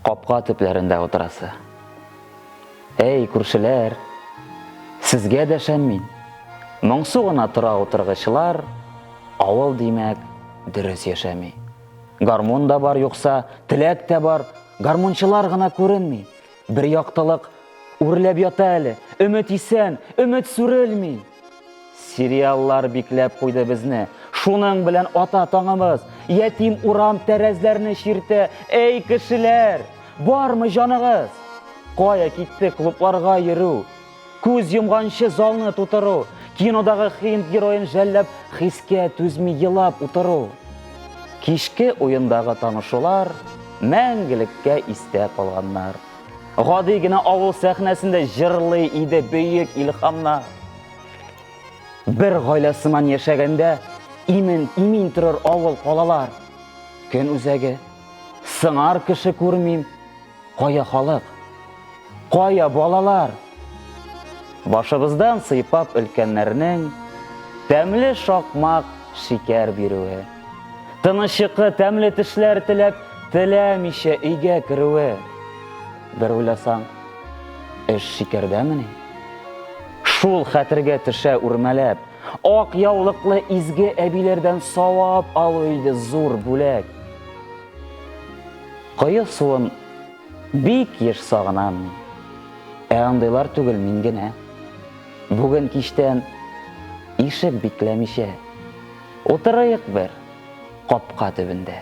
Капка төпләрендә утырасы. Әй, күршеләр, сезгә дәшәм мин. Моңсу гына тора утыргычлар, авыл, димәк, дөрес яшәми. Гармун да бар юкса, теләк тә бар, гармунчылар гына күренми. Бер яктылык үрләп ята әле, өмет исән, өмет сүрелми. Сериаллар бикләп куйды безне. Шуның белән ата таңымыз, ятим урам тәрәзләрне чиртә. Эй, кешеләр, бармы җаныгыз? Кая китте клубларга йөрү? Күз йомганчы залны тутыру, кинодагы хинд героен жәлләп, хискә түзми елап утыру. Кичке уендагы танышулар мәңгелеккә истә калганнар. Гади генә авыл сәхнәсендә җырлый иде бөек илхамна. Бер гаилә сыман яшәгәндә имен имин торыр авыл калалар. Көн үзәге сыңар кеше күрмим. Кая халык? Кая балалар? Башыбыздан сыйпап өлкәннәрнең Тәмле шакмак шикәр бирүе. Тыныч йокы, тәмле төшләр теләп, Теләмичә өйгә керүе. Бер уйласаң, эш шикәрдәмени? Шул хәтергә төшә үрмәләп, Ак яулыклы изге әбиләрдән Савап алу иде зур бүләк. Кое суын Бик еш сагынам мин. Ә андыйлар түгел мин генә. Бүген кичтән ишек бикләмичә утырыйк бер капка төбендә.